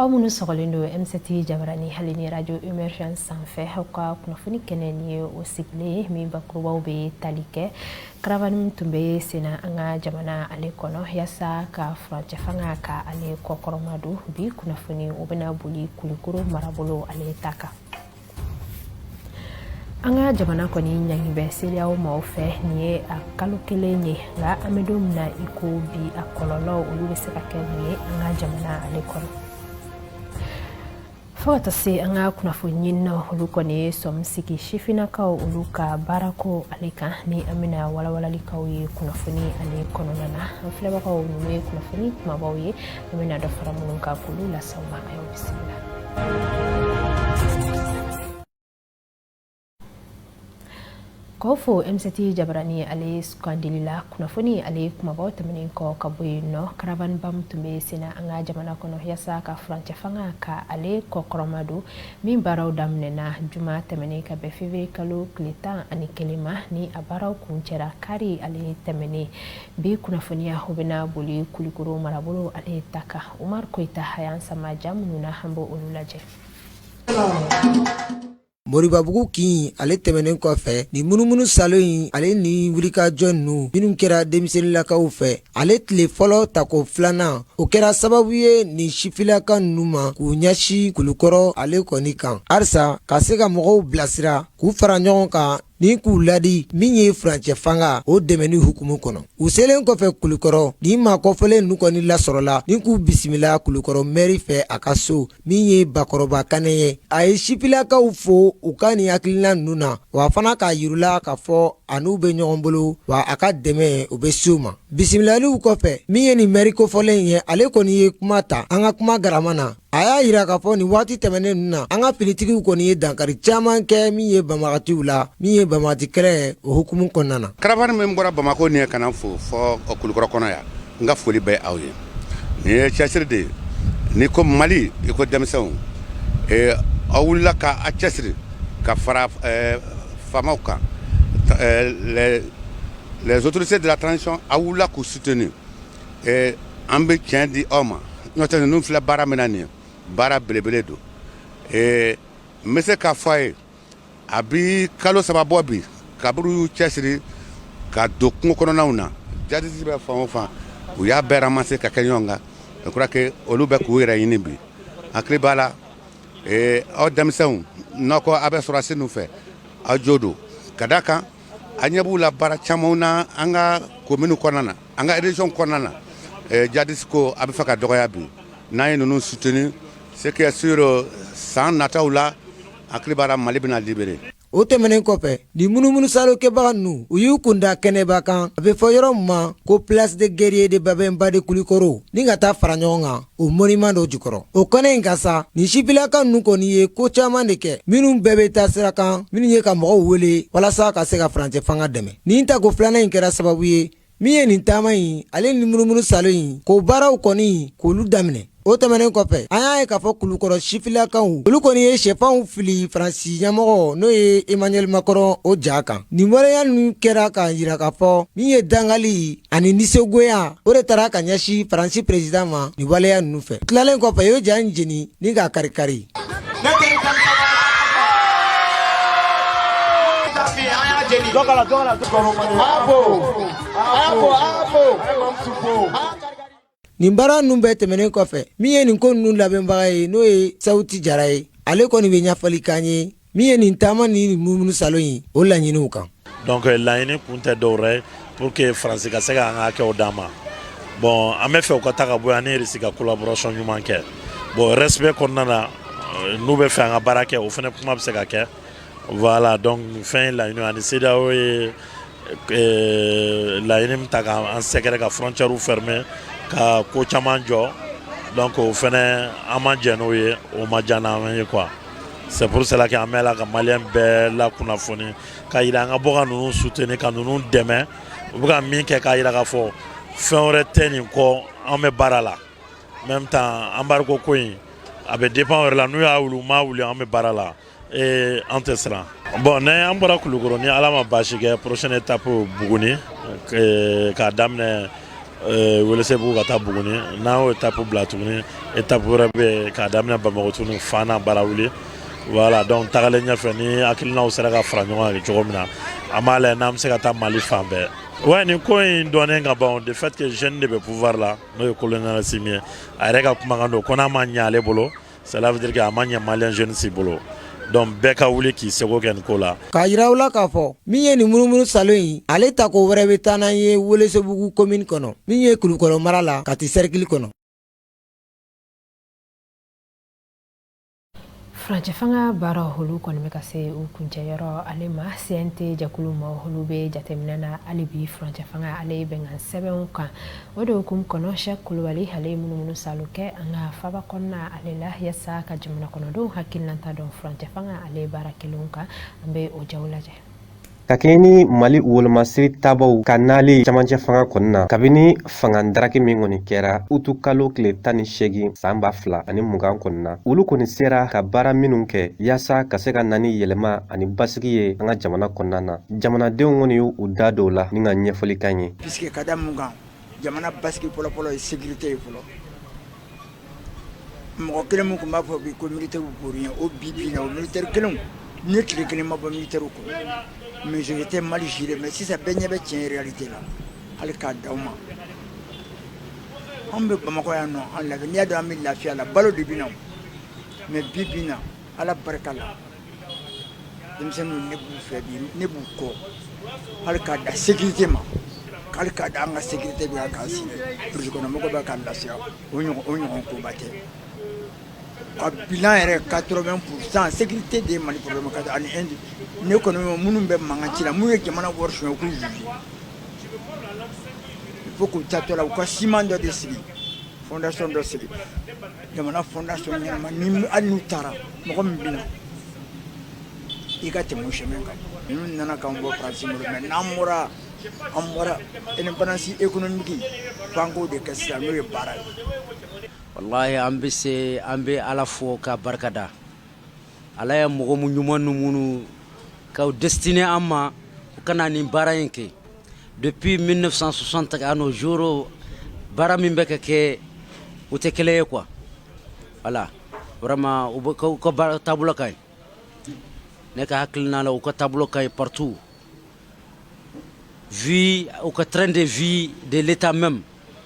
aw minnu sɔgɔlen don ɛmsɛti jabarani hali ni radio emergence sanfɛ aw ka kunnafoni kɛnɛ nin ye o sigilen min bakurubaw bɛ tali kɛ karavani min tun bɛ senna an ka jamana ale kɔnɔ yasa ka furancɛ fanga ka ale kɔkɔrɔma don bi kunnafoni o bɛna boli kulikoro marabolo ale ta kan an ka jamana kɔni ɲangi bɛ sedeyawo maaw fɛ nin ye a kalo kelen ye nka an bɛ don min na i ko bi a kɔlɔlɔ olu bɛ se ka kɛ mun ye an ka jamana ale kɔnɔ fo ka taa se an ka kunnafoni ɲininaw olu kɔni ye sɔmi sigi sifinnakaw olu ka baarako ale kan ni an bɛna walawalali k'aw ye kunnafoni ale kɔnɔna na an filɛbagaw ninnu ye kunnafoni kumabaw ye an bɛna dɔ fara minnu kan k'olu las'aw ma a y'aw bisimila k'aw fo ɛmsɛti jabarani ale sugandili la kunnafoni ale kumabaw tɛmɛnen kɔ ka bɔ yen nɔ karavaniba min tun bɛ senna an ka jamana kɔnɔ yasa ka furancɛ fanga ka ale kɔkɔrɔma don min baaraw daminɛna juma tɛmɛnen ka bɛn fevriye kalo tile tan ani kelen ma ni a baaraw kuncɛra kari ale tɛmɛnen bi kunnafoniya o bɛna boli kulikoro marabolo ale ta kan umaru koyita a y'an sama ja minnu na an b'o olu lajɛ moribabugu kin ale tɛmɛnen kɔfɛ ni munumunusaalo in ale ni wulikajɔ ninnu minnu kɛra denmisɛnninlakaw fɛ ale tile fɔlɔ tako filanan o kɛra sababu ye nin sifilaka ninnu ma k'u ɲɛsin kulukɔrɔ ale kɔni kan halisa ka se ka mɔgɔw bilasira k'u fara ɲɔgɔn kan ni k'u laadi min ye furancɛ fanga o dɛmɛni hukumu kɔnɔ u selen kɔfɛ kulukɔrɔ ni maa kofɔlen ninnu kɔni lasɔrɔla ni k'u bisimila kulukɔrɔ mɛri fɛ a ka so min ye bakɔrɔba kanɛ ye a ye sifilakaw fo u ka nin hakilina ninnu na wa fana k'a yir'u la k'a fɔ a n'u bɛ ɲɔgɔn bolo wa a ka dɛmɛw bɛ se u ma bisimilaliw kɔfɛ min ye nin mɛri kofɔlen ye ale kɔni ye kuma ta an ka kuma garama na a y'a yira k'a fɔ nin waati tɛmɛnen ninnu na an ka finitigiw kɔni ye dankari caman kɛ min ye banbagatiw la min ye banbagati kɛlɛ o hukumu kɔnɔna na karavani min bɔra bamakɔ nin ye ka na fo fɔ kulukɔrɔ kɔnɔ yan n ka foli bɛ aw ye nin ye cɛsiri de ye ni ko mali i ko denmisɛnw aw wulila k'aw cɛsiri ka fara faamaw kan les autorités de la transition aw wulila k'u suteni Ɛɛ an bɛ tiɲɛ di aw ma n'o tɛ ninnu filɛ baara min na nin ye baara belebele don ɛɛ n bɛ se k'a fɔ aw ye a bɛ kalo saba bɔ bi kabiri u y'u cɛsiri ka don kungo kɔnɔnaw na jadisi bɛ fan o fan u y'a bɛɛ ramasser ka kɛ ɲɔgɔn kan je crois que olu bɛ k'u yɛrɛ ɲini bi n hakili b'a la ee aw denmisɛnw n'aw ko aw bɛ sɔrɔdasi ninnu fɛ aw jo don ka d'a kan a ɲɛ b'u la baara camanw na an ka kominiw kɔnɔna na an ka région kɔnɔna na jadisi ko a bɛ fɛ ka dɔgɔya bi n'an ye ninnu soutenir c'est que sûr san nataw la hakili b'a la mali bɛna libérer o tɛmɛnen kɔfɛ nin munumunu salo kɛbaga ninnu u y'u kun da kɛnɛba kan a bɛ fɔ yɔrɔ min ma ko place de guerrier de babemba de kulikɔrɔ ni ka taa fara ɲɔgɔn kan o monument dɔ jukɔrɔ o kɛnɛ in kan sa nin sifilaka ninnu kɔni ye ko caman de kɛ minnu bɛɛ bɛ taa sira kan minnu ye ka mɔgɔw wele walasa ka se ka furancɛ fanga dɛmɛ nin tako filanan in kɛra sababu ye min ye nin taama in ale ni munumunu salo in k'o baaraw kɔni k'olu daminɛ o tɛmɛnen kɔfɛ an y'a ye k'a fɔ kulukɔrɔ sifilakaw olu kɔni ye sɛfanw fili faransi ɲɛmɔgɔ n'o ye emmanuel macron o ja kan nin waleya ninnu kɛra k'a jira k'a fɔ min ye dangali ani nisɔngoya o de taara ka ɲɛsin faransi président ma nin waleya ninnu fɛ tilalen kɔfɛ u y'o ja in jeni ni k'a kari-kari nin baara ninnu bɛɛ tɛmɛnen kɔfɛ min ye nin ko ninnu labɛnbaga ye n'o ye sawuti jara ye ale kɔni bɛ ɲɛfɔli k'an ye min ye nin taama ni munumunu salo in ye o laɲiniw kan donc laɲini kun tɛ dɔwɛrɛ ye pour que faransi ka se ka an ka hakɛw d'an ma bon an bɛ fɛ u ka taa ka bɔ yan n'u tɛ se ka collaboration ɲuman kɛ bon respect kɔnɔna na euh, n'u bɛ fɛ an ka baara kɛ o fana kuma bɛ se ka kɛ Voilà donc fɛn ye laɲini ani cedeao ye laɲini min ta k' an sɛgɛrɛ ka frontière fermer ka ko caman jɔ donc o fana an ma jɛn n'o ye o ma diya an ye quoi c'est pour cela que an bɛ la ka malien bɛɛ lakunnafoni k'a jira an ka bɔ ka ninnu soutenir ka ninnu dɛmɛ u bɛ ka min kɛ k'a jira k'a fɔ fɛn wɛrɛ tɛ nin kɔ an bɛ baara la même temps embargo ko in a bɛ dépend u yɛrɛ la n'u y'a wuli u m'a wuli an bɛ baara la Ee an tɛ siran bon n'an bɔra kulukɔrɔ ni ala ma baasi kɛ prochaine étape buguni k'a daminɛ welesebugu ka taa buguni n'an y'o étape bila tuguni étape wɛrɛ bɛ k'a daminɛ bamakɔ tuguni fana barawuli voilà donc tagalen ɲɛfɛ ni hakilinaw sera ka fara ɲɔgɔn kan cogo min na an b'a lajɛ n'an bɛ se ka taa mali fan bɛɛ wa nin ko in dɔnnen ka ban de fait que jeune de bɛ pouvoir la n'o ye colonel assimi ye a yɛrɛ ka kumakan don ko n'a ma ɲɛ ale bolo Cela veut dire que a ma ɲɛ malien jeune si bolo donc bɛɛ ka wuli k'i seko kɛ nin ko la k'a yira aw la k'a fɔ min ye nin munumunu salo in ale tako wɛrɛ bɛ taa n'an ye welesebugu komini kɔnɔ min ye kulukɔrɔ mara la kati sɛrikili kɔnɔ furancɛ fanga baara olu kɔni bɛ ka se u kuncɛyɔrɔ ale ma cnt jɛkulu ma olu bɛ jateminɛ na hali bi furancɛ fanga ale bɛnkan sɛbɛnw kan o de hukumu kɔnɔ sɛki kulubali ale ye munumunu salo kɛ an ka faba kɔnɔna ale la yasa ka jamana kɔnɔdenw hakililata dɔn furancɛ fanga ale baara kɛlen kan an bɛ o ja lajɛ ka kɛɲɛ ni mali wolomasiri tabaw ka nali camancɛ fanga kɔnɔna na kabini fanga daraki min kɔni kɛra utu kalo tile tan ni seegin san ba fila ani mugan kɔnɔna na olu kɔni sera ka baara minnu kɛ yaasa ka se ka na ni yɛlɛma ani basigi ye an ka jamana kɔnɔna na jamanadenw kɔni y u da don a la ni n ka ɲɛfɔlikan ye Puisque ka da mun kan jamana basigi fɔlɔ-fɔlɔ ye sécurité ye fɔlɔ mɔgɔ kelen min tun b'a fɔ bi ko militairew bori ɲɛ o bi bi in na o militaire kelenw ne tile kelen ma bɔ militairew kɔrɔ mais c'était mal géré mais sisan bɛɛ ɲɛ bɛ tiɲɛ réalité la hali k'a da u ma anw bɛ Bamakɔ yan nɔ an lafiya n'i y'a dɔn an bɛ lafiya la balo de bɛ na o mais bi bi in na ala barika la denmisɛnninw ne b'u fɛ bi ne b'u kɔ hali k'a da sécurité ma hali k'a da an ka sécurité bɛ yan k'an sigi burusi kɔnɔ mɔgɔ bɛ k'an lafiya o ɲɔgɔn o ɲɔgɔn koba tɛ ka bilan yɛrɛ 80 pour cent sécurité de ye mali problème ka ani indi ne kɔni minnu bɛ mankan ci la minnu ye jamana wari suɲɛ u k'u juger il faut k'u tatɔ la u ka siman dɔ de sigi fondation dɔ sigi jamana fondation ɲɛnama ni hali n'u taara mɔgɔ min bɛ na i ka tɛmɛ o chemin kan ninnu nana k'an bɔ faransi bolo mais n'an bɔra an bɔra indépendance économique f'an k'o de kɛ sisan n'o ye baara ye walahi an bɛ se an bɛ ala fo ka barika da ala ye mɔgɔ mu ɲuman nu minnu ka destiné an ma u ka na nin baara in kɛ Depuis 1960 à nos jours, baara min bɛ ka kɛ u tɛ kelen ye quoi voilà vraiment u bɛ u ka baara taabolo ka ɲi ne ka hakilina la u ka taabolo ka ɲi partout vu u ka train de vie de l'état même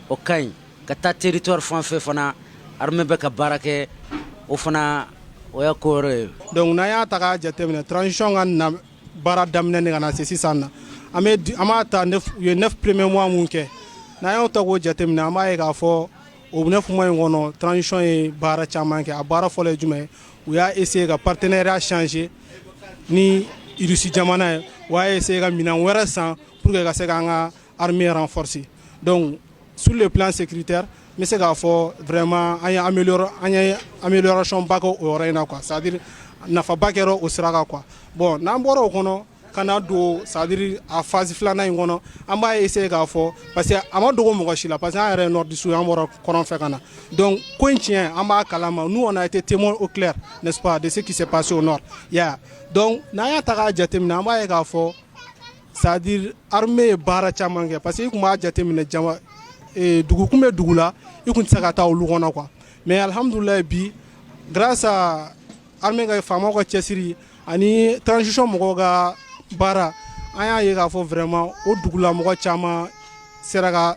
o ka ɲi ka taa territoire fan fɛ fana armée bɛ ka baara kɛ o fana o y'a ko wɛrɛ ye donc n'an y'a ta k'a jateminɛ transition ka na baara daminɛ ni ka na se sisan na an b'a ta u ye neuf premiers mois min kɛ n'an y'o ta k'o jateminɛ an b'a ye k'a fɔ o neuf mois in kɔnɔ transition ye baara caman kɛ a baara fɔlɔ ye jumɛn u y'a essayer ka partenariat changer ni irisi jamana ye u y'a essayer ka minɛn wɛrɛ san pour que ka se ka an ka sriur bɛ se k'a fɔ vma an anracɔnbakɛ o in na qu sadiri nafaba kɛra o sira qu bɔn n'an bɔra o kɔnɔ ka n'a don sadiri a fasi filanan in kɔnɔ an b'a ye se k'a fɔ parce que a ma dogo mɔgɔ si la parce que an yɛrɛ nɔ dususu an bɔra kɔrɔn fɛ ka na dɔn ko in tiɲɛ an b'a kala ma n'u kɔnɔ a tɛ te o tile ne de se ki pa se o nɔ ya dɔn n'a y'a ta' jateminɛ an b'a ye k'a fɔ C'est-à-dire armée ye baara caman kɛ parce que i kun b'a jateminɛ dugu kun bɛ dugu la i kun tɛ se ka taa olu kɔnɔ quoi mais alihamdulila bi grâce à armée ka faamaw ka cɛsiri ani transition mɔgɔw ka baara an y'a ye k'a fɔ vraiment o dugulamɔgɔ caman sera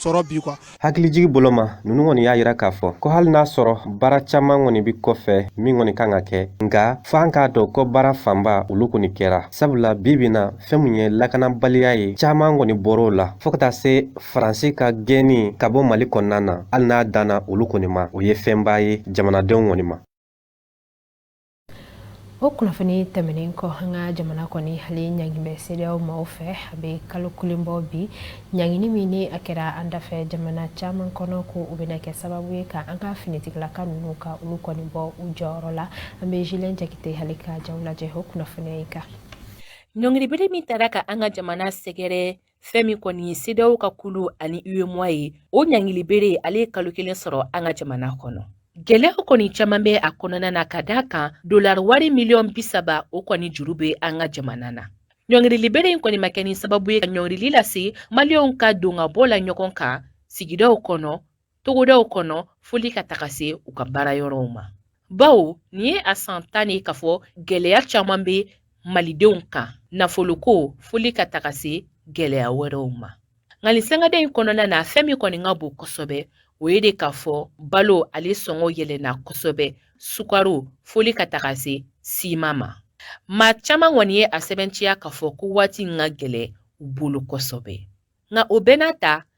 sɔrɔ bi quoi hakilijigi bolo ma ninnu kɔni y'a yira k'a fɔ ko hali n'a sɔrɔ baara caman kɔni bi kɔfɛ min kɔni kan ka kɛ nka f'an k'a dɔn ko baara fanba olu kɔni kɛra sabula bi bi na fɛn min ye lakanabaliya ye caman kɔni bɔr'o la fɔɔ ka taa se faransi ka gɛnni ka bɔ mali kɔnɔna na hali n'a danna olu kɔni ma o ye fɛnba ye jamanadenw kɔni ma o kunnafoni tɛmɛnen kɔ an ka jamana kɔni ale ɲangin bɛ sedeyaw maaw fɛ a bɛ kalo kelen bɔ bi ɲangini min ni a kɛra an dafɛ jamana caman kɔnɔ ko u bɛna kɛ sababu ye ka an ka finitigilaka ninnu ka olu kɔni bɔ u jɔyɔrɔ la an bɛ julien jakite ale ka jaw lajɛ o kunnafoniya in kan ɲɔngiribere min taara ka an ka jamana sɛgɛrɛ fɛn min kɔni ye sedeyaw ka kulu ani uemoa ye o ɲangili bere ale ye kalo kelen sɔrɔ an ka jamana kɔnɔ Gɛlɛya kɔni caman bɛ a kɔnɔna na ka d'a kan dolari wari miliyɔn bisaba o kɔni juru bɛ an ka jamana na ɲɔngirili bere in kɔni ma kɛ ni sababu ye ka ɲɔngirili lase maliyɛnw ka don ka bɔ la ɲɔgɔn kan sigidaw kɔnɔ togodaw kɔnɔ foli ka taga se u ka baara yɔrɔw ma bawo nin ye a san tan ye k'a fɔ gɛlɛya caman bɛ malidenw kan nafoloko foli ka taga se gɛlɛya wɛrɛw ma nka nin sangada in kɔnɔna na fɛn min kɔni ka bon kosɛbɛ o ye de k'a fɔ balo ale sɔngɔ yɛlɛnna kosɛbɛ sukaro foli ka taga se siman ma maa caman kɔni ye a sɛbɛnciya k'a fɔ ko waati in ka gɛlɛn u bolo kosɛbɛ nka o bɛɛ n'a ta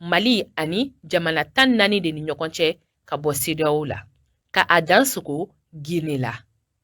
mali ani jamana tan naani de ni ɲɔgɔn cɛ ka bɔ sedeyaw la ka a dansogo gine la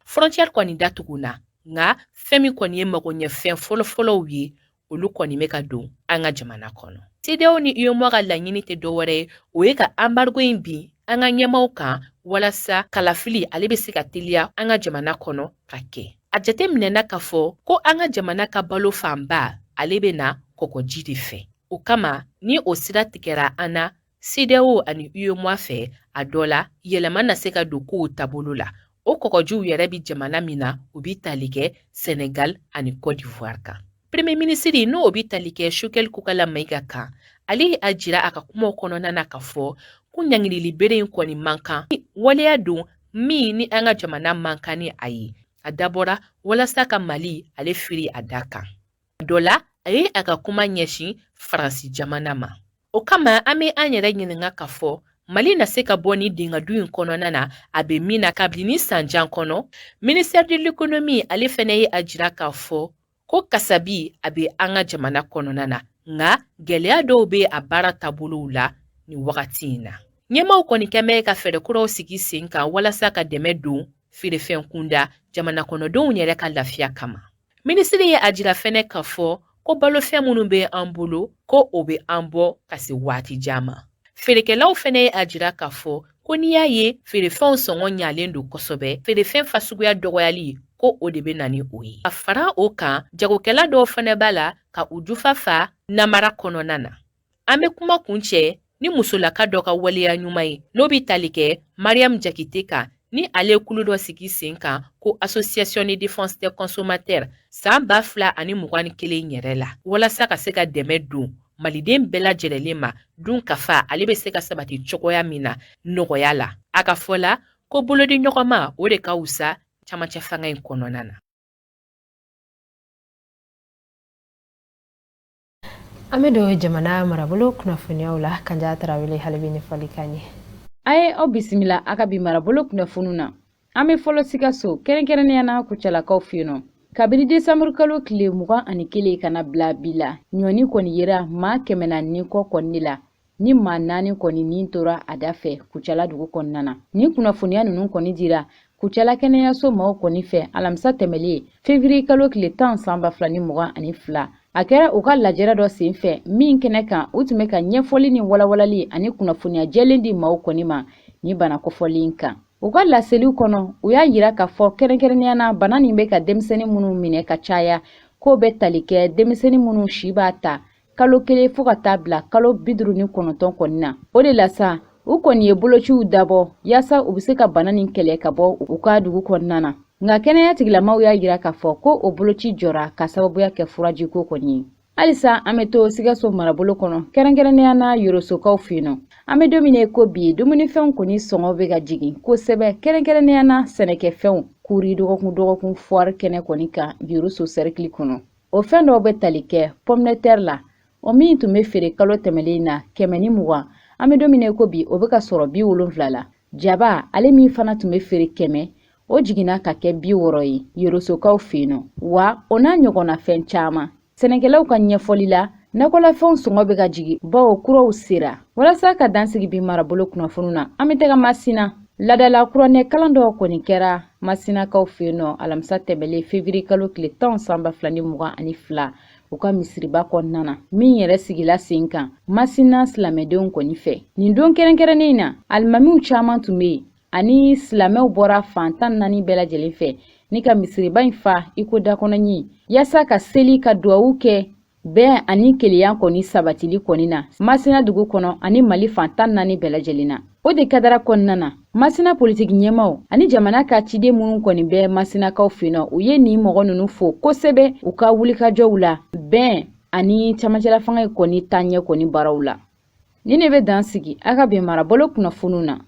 frontiɛri kɔni datugunna nka fɛn min kɔni ye magoɲɛfɛn fɔlɔfɔlɔw ye olu kɔni bɛ ka don an ka jamana kɔnɔ sedeyaw ni uemoa ka laɲini tɛ dɔwɛrɛ ye o ye ka anbargo in bin an ka ɲɛmaaw kan walasa kalafili ale bɛ se ka teliya an ka jamana kɔnɔ ka kɛ a jateminɛna k'a fɔ ko an ka jamana ka balo fanba ale bɛ na kɔkɔji de fɛ O kama ni o sira tigɛra an na sedeyaw ani uemoa fɛ a dɔ la yɛlɛma na se ka don kow taabolo la o kɔgɔjiw yɛrɛ bɛ jamana min na u bɛ tali kɛ sɛnɛgal ani kɔdiwari kan premier minisiri n'o bɛ tali kɛ sogɛli kokala mayiga kan ale y'a jira a ka kumaw kɔnɔna na k'a fɔ ko ɲangilili bere in kɔni man kan waleya don min ni an ka jamana man kan ni a ye a dabɔra walasa ka mali ale firi a da kan dɔ la a ye a ka kuma ɲɛsin faransi jamana ma o kama an be an yɛrɛ ɲininga k'a fɔ mali na se ka bɔ ni dinga dun in kɔnɔna na a be min na kabini ni san jan kɔnɔ ministère de l'économie ale fɛnɛ ye a jira k'a fɔ ko kasabi a be an ka jamana kɔnɔna na nka gwɛlɛya dɔw be a baara taabolow la ni wagati in na ɲɛmaw kɔni kɛn bɛ ka fɛɛrɛ kuraw sigi sen kan walasa ka dɛmɛ don feerefɛn kunda jamanakɔnɔdenw yɛrɛ ka lafiya kama Minisiri ye a jira fɛnɛ k'a fɔ ko balofɛn minnu bɛ an bolo ko o bɛ an bɔ ka se waati jan ma feerekɛlaw fɛnɛ ye a jira k'a fɔ ko n'i y'a ye feerefɛnw sɔngɔ ɲalen don kosɛbɛ feerefɛn fasuguya dɔgɔyali ko o de bɛ na ni o ye ka fara o kan jagokɛla dɔw fɛnɛ b'a la ka u jufa fa namara kɔnɔna na an be kuma kuncɛ ni musolaka dɔ ka waleya ɲuman ye n'o be tali kɛ mariyamu jakite kan ni ale ye kulu dɔ sigi sen kan ko association de défense des consommateurs san ba fila ani mugan ni kelen yɛrɛ la walasa ka se ka dɛmɛ don maliden bɛɛ lajɛlɛlen ma dunkafa ale bɛ se ka sabati cogoya min na nɔgɔya la a ka fɔ la ko bolodiɲɔgɔnma o de ka wusa camancɛ fanga in kɔnɔna na an bɛ don jamana marabolo kunnafoniyaw la kanja tarawele ale bɛ ɲɛfɔli k'an ye a ye aw bisimila a ka bi marabolo kunnafoniw na an bɛ fɔlɔ sikaso kɛrɛnkɛrɛnnenya na kucalakaw fɛ yen nɔ kabini desanburu kalo tile mugan ani kelen ka na bila bi la ɲɔni kɔni yera maa kɛmɛ naani kɔ kɔni la ni maa naani kɔni ni tora a da fɛ kucala dugu kɔnɔna na ni kunnafoniya ninnu kɔni dira kucala kɛnɛyaso maw kɔni fɛ alamisa tɛmɛlen fevriye kalo tile tan san ba fila ni mugan ani fila a kɛra u ka lajɛrɛ dɔ sen fɛ min kɛnɛ kan u tun bɛ ka ɲɛfɔli ni walawalali ani kunnafoniya jɛlen di maw kɔni ma ni bana kofɔlen kan u ka laseliw kɔnɔ u y'a yira k'a fɔ kɛrɛnkɛrɛnnenya na bana nin bɛ ka denmisɛnnin minnu minɛ ka caya k'o bɛ tali kɛ denmisɛnnin minnu si b'a ta kalo kelen fo ka taa bila kalo bi duuru ni kɔnɔntɔn kɔni na o de la sa u kɔni ye bolociw dabɔ yaasa u bɛ se ka bana nin kɛlɛ ka bɔ u ka dugu kɔnɔna na nka kɛnɛya tigilamaw y'a yira k'a fɔ ko o boloci jɔra ka sababuya kɛ furaji ko kɔni ye halisa an bɛ to sikaso marabolo kɔnɔ kɛrɛnkɛrɛnnenya na yorosokaw fɛ yen nɔ an bɛ don min na ko bi dumunifɛnw kɔni sɔngɔ bɛ ka jigin kosɛbɛ kɛrɛnkɛrɛnnenya na sɛnɛkɛfɛnw kuri dɔgɔkun dɔgɔkun fuwari kɛnɛ kɔni kan yoroso sɛrikili kɔnɔ o fɛn dɔw bɛ tali kɛ pomme de terre la o min tun bɛ feere kalo tɛmɛlen na kɛmɛ ni mugan an bɛ don min na ko bi o bɛ ka sɔrɔ bi wolonfila la jaba ale min fana tun bɛ feere kɛmɛ o jiginna ka kɛ bi wɔɔrɔ ye yorosokaw fɛ yen nɔ wa o n'a ɲɔgɔnna fɛn caman sɛnɛkɛlaw ka ɲɛfɔli la nakɔlafɛnw sɔngɔ bɛ ka jigin bawo kuraw sera walasa ka dan sigi bi marabolo kunnafoniw na an bɛ taga masina laadala kuranɛ kalan dɔ kɔni kɛra masinakaw fɛ yen nɔ alamisa tɛmɛlen fevrier kalo tile tan san ba fila ni mugan ani fila u ka misiriba kɔnɔna na min yɛrɛ sigila sen kan masina silamɛdenw kɔni fɛ nin don kɛrɛnkɛrɛnnen in na alimamiw caman tun bɛ yen ani silamɛw bɔra fan tan naani bɛɛ lajɛlen fɛ ni ka misiriba in fa iko dakɔnɔɲi yaasa ka seli ka duwawu kɛ bɛn ani kelenya kɔni sabatili kɔni na masina dugu kɔnɔ ani mali fan tan naani bɛɛ lajɛlen na o de kadara kɔnɔna na masina politiki ɲɛmaw ani jamana ka ciden minnu kɔni bɛ masinakaw fɛ yen nɔ u ye nin mɔgɔ ninnu fo kosɛbɛ u ka wulikajɔw la bɛn ani camancɛla fanga in kɔni taaɲɛ kɔni baaraw la nin de bɛ dan sigi a ka bɛn marabolo kunnafoniw na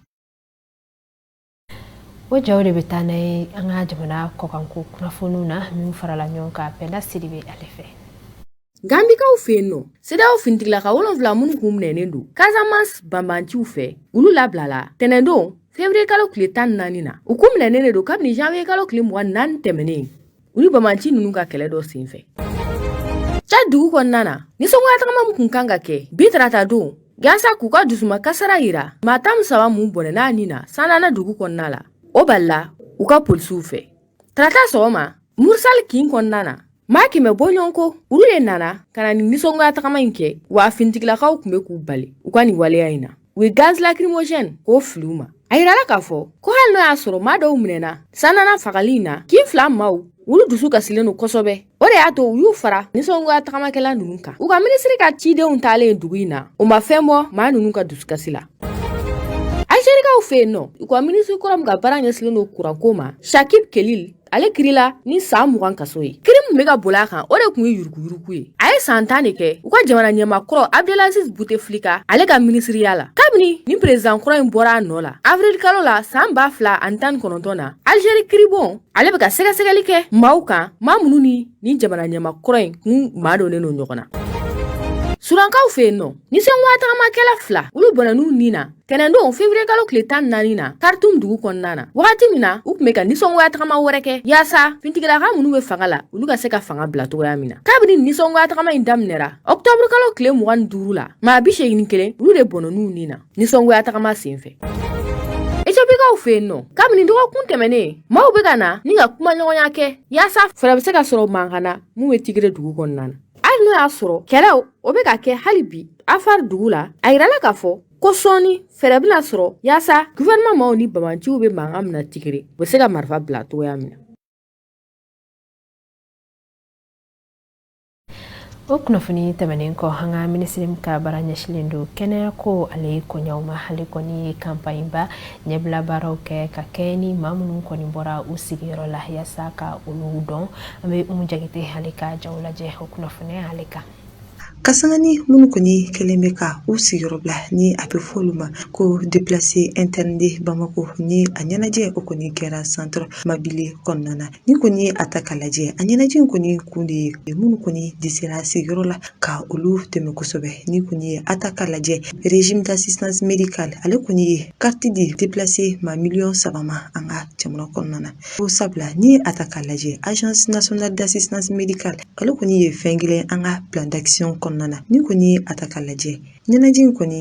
o jaw de bɛ taa n'an ye an ka jamana kɔkanko kunnafoniw na min farala ɲɔgɔn kan penda sidibe ale fɛ gambikaw fɛ yen nɔ cedeao finitigilaka wolonwula minnu kun minɛnen don casamance banbanciw fɛ olu labilala tɛnɛndon fevrier kalo tile tan naani na u kun minɛnen de don kabini janviye kalo tile mugan ni naani tɛmɛnen u ni banbanci ninnu ka kɛlɛ dɔ senfɛ tchad dugu kɔnɔna na nisɔngoya tagama min kun kan ka kɛ bi tarata don yaasa k'u ka dusuma kasara yira maa tan saba mun bɔnɛn'a ni na sandana dugu kɔnɔna la o balila u ka polisiw fɛ tarata sɔgɔma moursal kin kɔnɔna na maa kɛmɛ bɔɲɔgɔn ko olu de nana ka na ni nisɔngoya tagama in kɛ wa fintigilakaw kun be k'u bali u ka nin waleya in na u ye gaz lacrymogène k'o fili u ma a yirala k'a fɔ ko hali n'o y'a sɔrɔ maa dɔw minɛna sandana fagali in na kin fila maaw olu dusu kasilen don kosɛbɛ o de y'a to u y'u fara nisɔngoya tagamakɛla ninnu kan u ka minisiri ka cidenw taalen dugu in na o ma fɛn bɔ maa ninnu ka dusukasi la algerikaw fɛ yen nɔ u ka minisiri kɔrɔ min ka baara ɲɛsilen don kuranko ma chakib khelil ale kirila ni san mugan kaso ye kiri min be ka boli a kan o de kun ye yuruguyurugu ye a ye san tan de kɛ u ka jamana ɲɛma kɔrɔ abdelaziz bouteflika ale ka minisiriya la kabini ni perezidan kɔrɔ in bɔra a nɔɔ la avril kalo la san ba fila ani tan ni kɔnɔntɔn na algeri kiribon ale be ka sɛgɛsɛgɛli kɛ maaw kan maa minnu ni ni jamana ɲɛma kɔrɔ in kun madonnen don ɲɔgɔn na sudankaw fɛ yen nɔ nisɔngoya tagamakɛla fila olu bɔnɛn'u ni na Tɛnɛndon fevrier kalo tile tan naani na Khartoum dugu kɔnɔna na wagati min na u kun bɛ ka nisɔngoya tagama wɛrɛ kɛ yaasa fintigilaka minnu bɛ fanga la olu ka se ka fanga bila cogoya min na kabini nisɔngoya tagama in daminɛra ɔktɔburu kalo tile mugan ni duuru la maa bi seegin ni kelen olu de bɔnɛn'u ni na nisɔngoya tagama sen fɛ Ethiopikaw fɛ yen nɔ kabini dɔgɔkun tɛmɛnen maaw bɛ ka na ni ka kumaɲɔgɔnya kɛ yaasa fɛɛrɛ bɛ se ka sɔrɔ mankan na mun bɛ Tigre dugu kɔnɔna na hali n'o y'a sɔrɔ kɛlɛw o bɛ ka kɛ hali bi Afar dugu la a yirala k'a fɔ ko sɔɔni fɛɛrɛ bɛna sɔrɔ yaasa gouvernement maaw ni banbanciw bɛ mankan min na Tigre u bɛ se ka marifa bila cogoya min na o kunnafoni tɛmɛnen kɔ an ka minisiri min ka baara ɲɛsilen don kɛnɛyako ale koɲɛw ma ale kɔni ye campagne ba ɲɛbila baaraw kɛ ka kɛɲɛ ni maa minnu kɔni bɔra u sigiyɔrɔ la yaasa ka olu dɔn an bɛ umu jagite ale ka jaw lajɛ o kunnafoni ale kan Ka sanga ni minnu kɔni kɛlen bɛ ka u sigiyɔrɔ bila ni a bɛ fɔ olu ma ko déplacés internes de bamakɔ ni a ɲɛnajɛ o kɔni kɛra centre mabile kɔnɔna na ni kɔni ye a ta ka lajɛ a ɲɛnajɛ in kɔni kun de ye minnu kɔni dɛsɛra sigiyɔrɔ la ka olu dɛmɛ kosɛbɛ ni kɔni ye a ta ka lajɛ régime d'assistance médicale ale kɔni ye carte di déplacés maa miliyɔn saba ma an ka jamana kɔnɔna na o sabula ni a ta ka lajɛ agence nationale d'assistance médicale ale kɔni ye fɛn kelen an ka plan d'action kɔnɔna na ni kɔni ye a ta ka lajɛ ɲɛnajɛ in kɔni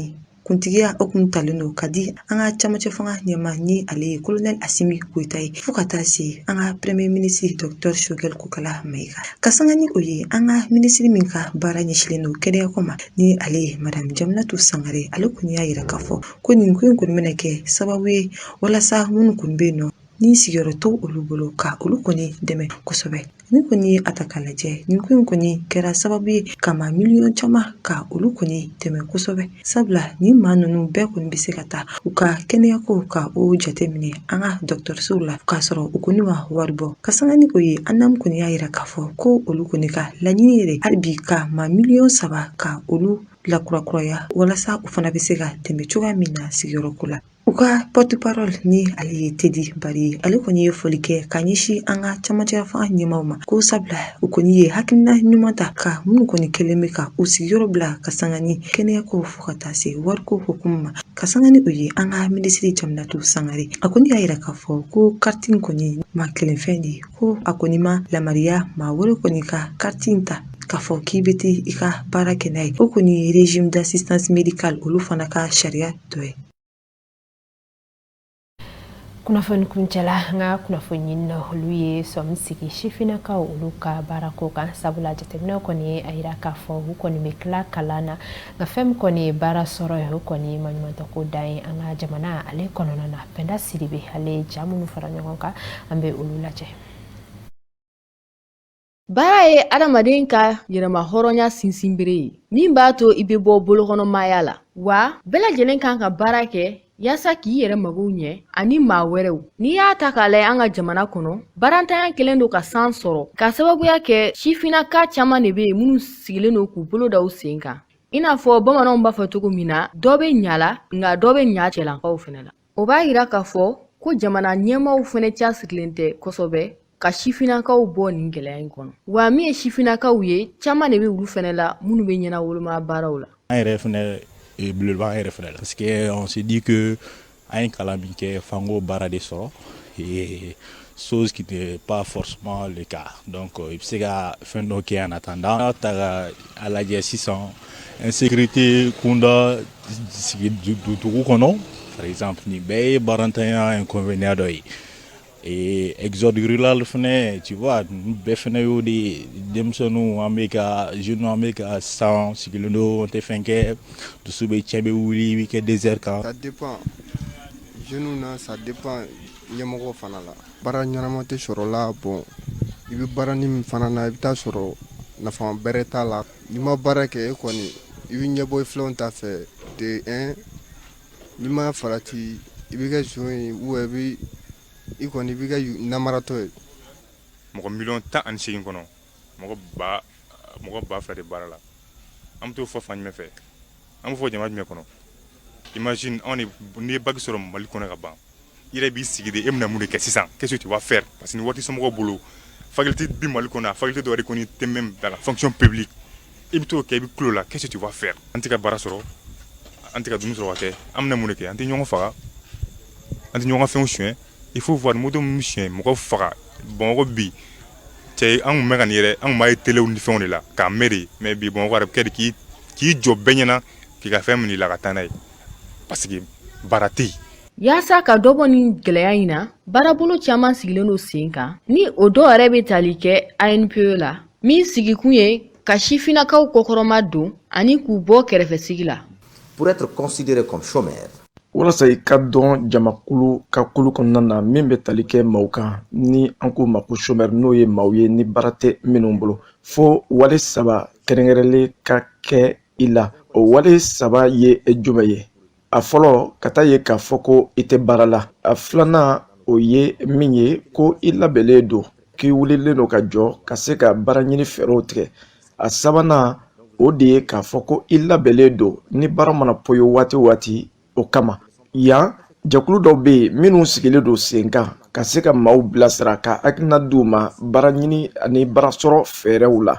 kuntigiya o kun talen don ka di an ka camancɛ fanga ɲɛmaa ni ale ye kolonɛli asimi goyita ye fɔɔ ka taa se an ka premye minisiri dɔktɛr sogɛli kokala mayiga ka sanga ni o ye an ka minisiri min ka baara ɲɛsilen don kɛnɛyako ma ni ale ye madamu jaminatu sangare ale kɔni y'a yira k'a fɔ ko nin ko in kɔni bɛna kɛ sababu ye walasa minnu kɔni bɛ yen nɔ ni sigiyɔrɔ tɛ olu bolo ka olu kɔni dɛmɛ kosɛbɛ ni kɔni ye a ta k'a lajɛ nin ko in kɔni kɛra sababu ye ka maa miliyɔn caman ka olu kɔni dɛmɛ kosɛbɛ sabula nin maa ninnu bɛɛ kɔni bɛ se ka taa u ka kɛnɛyako ka o jateminɛ an ka dɔgɔtɔrɔsow la k'a sɔrɔ u kɔni ma wari bɔ ka sanga ni o ye ANAM kɔni y'a yira k'a fɔ ko olu kɔni ka laɲini yɛrɛ hali bi ka maa miliyɔn saba ka olu lakurakuraya walasa u fana bɛ se ka dɛmɛ cogoya min na sigiyɔrɔko la U ka porte-parole ni ale ye tedi bari ale kɔni ye foli kɛ ka ɲɛsin an ka camancɛ fanga ɲɛmaaw ma ko sabula u kɔni ye hakilina ɲuman ta ka minnu kɔni kɛlen bɛ ka u sigiyɔrɔ bila ka sanga ni kɛnɛyako fo ka taa se wariko hukumu ma ka sanga ni o ye an ka minisiri jaminatu sangare a kɔni y'a yira k'a fɔ ko carte in kɔni maa kelen fɛn de ye ko a kɔni ma yamariya maa wɛrɛ kɔni ka carte in ta k'a fɔ k'i bɛ taa i ka baara kɛ n'a ye o kɔni ye régime d'assistance médicale olu fana ka sariya dɔ ye kunnafoni kuncɛla an ka kunnafoniɲinina olu ye sɔmi sigi sifinnakaw olu ka baarako kan sabula jateminɛw kɔni a yira k'a fɔ u kɔni bɛ tila kalan na nka fɛn min kɔni ye baara sɔrɔ ye o kɔni maɲumantɔko dan ye an ka jamana ale kɔnɔna na pɛnda sidibe ale ye ja minnu fara ɲɔgɔn kan an bɛ olu lajɛ Baara ye adamaden ka yɛrɛma hɔrɔnya sinsinbere ye min b'a to i bɛ bɔ bolokɔnɔmaya la wa bɛɛ lajɛlen kan ka baara kɛ yaasa k'i yɛrɛ magow ɲɛ ani maa wɛrɛw n'i y'a ta k'a lajɛ an ka jamana kɔnɔ baarantanya kelen don ka san sɔrɔ ka sababuya kɛ sifinnaka caman de bɛ yen minnu sigilen don k'u bolo da u sen kan i n'a fɔ bamananw b'a fɔ cogo min na dɔ bɛ ɲa la nka dɔ bɛ ɲa cɛlankaw fɛnɛ la o b'a yira k'a fɔ ko jamana ɲɛmaaw fɛnɛ cɛsirilen tɛ kosɛbɛ ka sifinnakaw bɔ nin gɛlɛya in kɔnɔ wa min ye sifinnakaw ye caman de bɛ olu fɛnɛ la minnu bɛ ɲɛnawoloma baaraw la an yɛrɛ fɛnɛ eh, belebeleba an yɛrɛ fɛnɛ la parce que on se dit que an ye kalan min kɛ f'an k'o baara de sɔrɔ eh, chose qui n'est pas forcément le cas. Donc, euh, i bɛ se ka fɛn dɔ kɛ en attendant. N'a ta ka a lajɛ sisan insécurité kunda sigi du- du- dugu kɔnɔ par exemple nin bɛɛ ye baarantanya inconvénient dɔ ye. Et exode rural fɛnɛ tu vois nin bɛɛ fɛnɛ y'o de ye denmisɛnninw an bɛ ka jeunes an bɛ ka sa an sigilen don an tɛ fɛn kɛ dusu bɛ cɛn i bɛ wuli i bɛ kɛ désert kan. Ça dépend. Jeunes na ça dépend ɲɛmɔgɔ fana la baara ɲɛnama tɛ sɔrɔ la bon i bɛ baaranin min fana na i bɛ taa sɔrɔ nafa bɛrɛ t'a la n'i ma baara kɛ e kɔni i bɛ ɲɛbɔ i filanw ta fɛ de un n'i ma farati i bɛ kɛ zon ye ou i bɛ i kɔni i bɛ kɛ namaratɔ ye mɔgɔ miliyɔn tan ani seegin kɔnɔ mɔgɔ ba mɔgɔ ba fila de baara la an bɛ t'o fɔ fan jumɛn fɛ an b'o fɔ jama jumɛn kɔnɔ imagine anw de n'i ye bac sɔrɔ Mali kɔnɔ ka ban i yɛrɛ b'i sigi de e bɛna mun de kɛ sisan qu'est-ce que tu vas faire parce que ni wari t'i somɔgɔw bolo faculté bi Mali kɔnɔ yan faculté dɔ yɛrɛ kɔni tɛ même dans la fonction publique i bɛ t'o kɛ i bɛ kulo la qu'est-ce que tu vas faire an tɛ ka baara sɔrɔ an tɛ ka dumuni sɔrɔ ka kɛ an bɛna mun de kɛ an tɛ ɲɔgɔn faga an tɛ ɲɔgɔn ka fɛnw suɲɛ il faut voir moto min suɲɛ mɔgɔ faga bamakɔ bi cɛ anw bɛ ka nin yɛrɛ an b'a ye telew ni fɛnw de la k'a mɛn de mais bi bamakɔ bɛ kɛ k'i jɔ bɛɛ ɲɛna k'i ka fɛn minɛ i la ka taa n'a ye parce que baara tɛ yen yaasa ka dɔ bɔ nin gɛlɛya in na baarabolo caman sigilen don sen kan ni o dɔw yɛrɛ bɛ tali kɛ ANPE la min sigikun ye ka sifinnakaw kɔkɔrɔma don ani k'u bɔ kɛrɛfɛsigi la Pour être considéré comme chômeur, walasa i ka don jamakulu ka kulu kɔnɔna na min bɛ tali kɛ maaw kan ni an k'u ma ko chômeur n'o ye maaw ye ni baara tɛ minnu bolo fo wale saba kɛrɛnkɛrɛnlen ka kɛ i la o wale saba ye jumɛn ye a fɔlɔ ka taa ye k'a fɔ ko i tɛ baara la a filanan o ye min ye ko i labɛnnen don k'i wulilen don ka jɔ ka se ka baara ɲini fɛɛrɛw tigɛ a sabanan o de ye k'a fɔ ko i labɛnlen don ni baara mana poyi waati o waati o kama yan jɛkulu dɔw bɛ yen minnu sigilen don senkan ka se ka maaw bilasira ka hakilina d'u ma baara ɲini ani baara sɔrɔ fɛɛrɛw la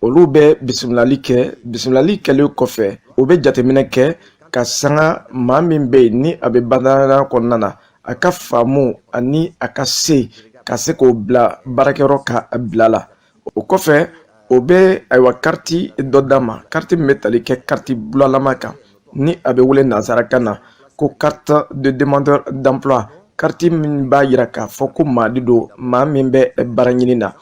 olu bɛ bisimilali kɛ bisimilali kɛlen kɔfɛ o bɛ jateminɛ kɛ ka sanga maa min bɛ yen ni a bɛ badanya kɔnɔna na a ka faamu ani a ka se ka se k'o bila baarakɛyɔrɔ ka bila la o kɔfɛ o bɛ ayiwa kariti dɔ d'a ma kariti min bɛ tali kɛ kariti bulalama kan ni a bɛ wele nansarakan na ko carte de demandeur d'emploi kariti min b'a yira k'a fɔ ko maa de don maa min bɛ baara ɲini na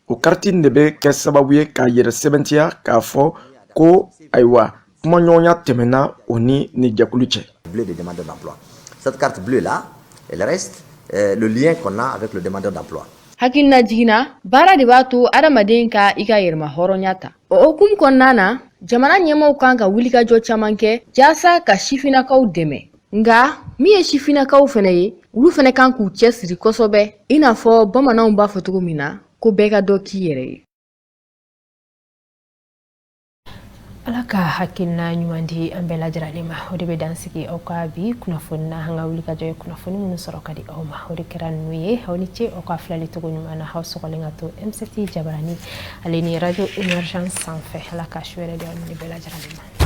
o kariti de bɛ kɛ sababu ye k'a yɛrɛ sɛbɛntiya k'a fɔ ko ayiwa kumaɲɔgɔnya tɛmɛna o ni nin jɛkulu cɛ bleu de demandeur d'emploi cette carte bleue là elle reste euh, le lien qu'on a avec le demandeur d'emploi hakilinajigin na baara de b'a to adamaden ka i ka yɛrɛma hɔrɔnya ta o hukumu kɔnɔna na jamana ɲɛmaaw kan ka wulikajɔ caman kɛ jaasa ka sifinnakaw dɛmɛ nka min ye sifinnakaw fɛnɛ ye olu fɛnɛ kan k'u cɛ siri kosɛbɛ i n'a fɔ bamananw b'a fɔ cogo min na ko bɛɛ ka dɔ k'i yɛrɛ ye ala ka hakilina ɲuman di an bɛɛ lajɛrɛlen ma o de bɛ dan sigi aw ka bi kunnafoni na an ka wulikajɔ ye kunnafoni minnu sɔrɔ ka di aw ma o de kɛra ninnu ye aw ni ce aw ka filali cogo ɲuman na aw sɔgɔlen ka to mct jabarani ale ni radio émergence sanfɛ ala ka su hɛɛrɛ di aw ni bɛɛ lajɛrɛlen ma